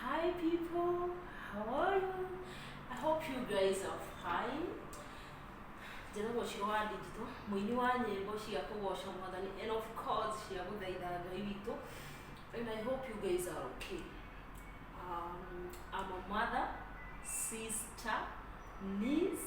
Hi people, how are you? I hope you guys are fine. Njĩra gũcio wa ndinjito, mũini wa nyĩmbo cia kũgoca mwathani and of course cia gũthaitha Ngai witũ. And I hope you guys are okay. Um, I'm a mother, sister, niece,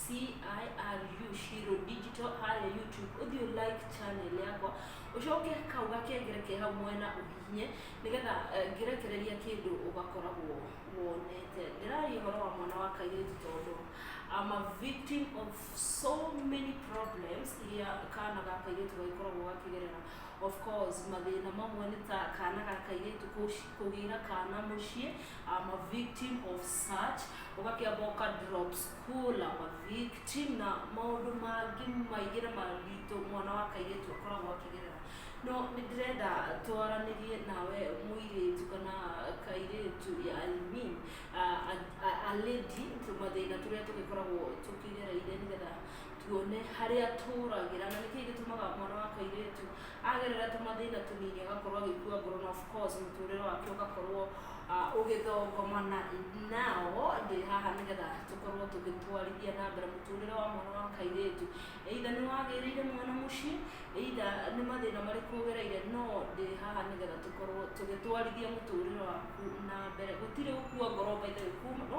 CIRU Shiro Digital harĩa YouTube ũthiĩ ũ like channel yakwa ũcoke kau gakengere ke hau mwena ũhihinye nĩgetha eh, ngĩrekereria kĩndũ ũgakoragwo wonete ndĩraria ũhoro wa mwana wa kairĩtu tondũ I'm a victim of so many problems iria kana ga kairĩtu gagĩkoragwo gakĩgerera of course mathĩna mamwe nĩ ta kana ga kairĩtu kũci- kũgĩra kana mũciĩ I'm a victim of such ũgakĩa boka drop school I'm a victim na maũndũ mangĩ maingĩ na maritũ mwana wa kairĩtu akoragwo akĩgerera no nĩ ndĩrenda twaranĩrie nawe mũirĩtu kana kairĩtu ya alimi aledi mathĩna tũrĩa tũgĩkoragwo tũkĩgereire nĩgetha tuone harĩa tũragĩra na nĩkĩĩ gĩtũmaga mwana wa kairĩtu agerera tũmathĩna tũnini agakorwo agĩkua ngoro na of course mũtũrĩre wake ũgakorwo ah, ũgĩthongoma na nao ndĩ haha nĩgetha tũkorwo tũgĩtwarithia na mbere mũtũrĩre wa mwana wa kairĩtu either nĩ wagĩrĩire mwana mũciĩ either nĩ mathĩna marĩkũ ũgereire no ndĩ haha nĩgetha tũkorwo tũgĩtwarithia mũtũrĩre waku na mbere gũtirĩ gũkua ngoro by the way kuma no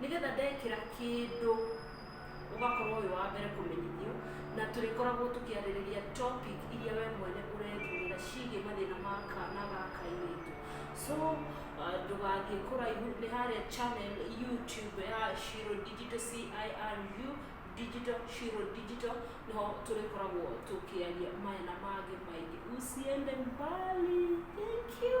Nĩ getha ndekĩra kĩndũ ũgakorwo wĩ wa mbere kũmenyithio na tũrĩkoragwo tũkĩarĩrĩria topic iria we mwene ũrethurĩra ciĩgiĩ mathĩna ma kana ga kairĩtu. So ndũgathiĩ kũraihu nĩ harĩa channel YouTube ya Shiro Digital CIRU Digital Shiro Digital nĩho tũrĩkoragwo tũkĩaria maya na mangĩ maingĩ. Usiende mbali. Thank you.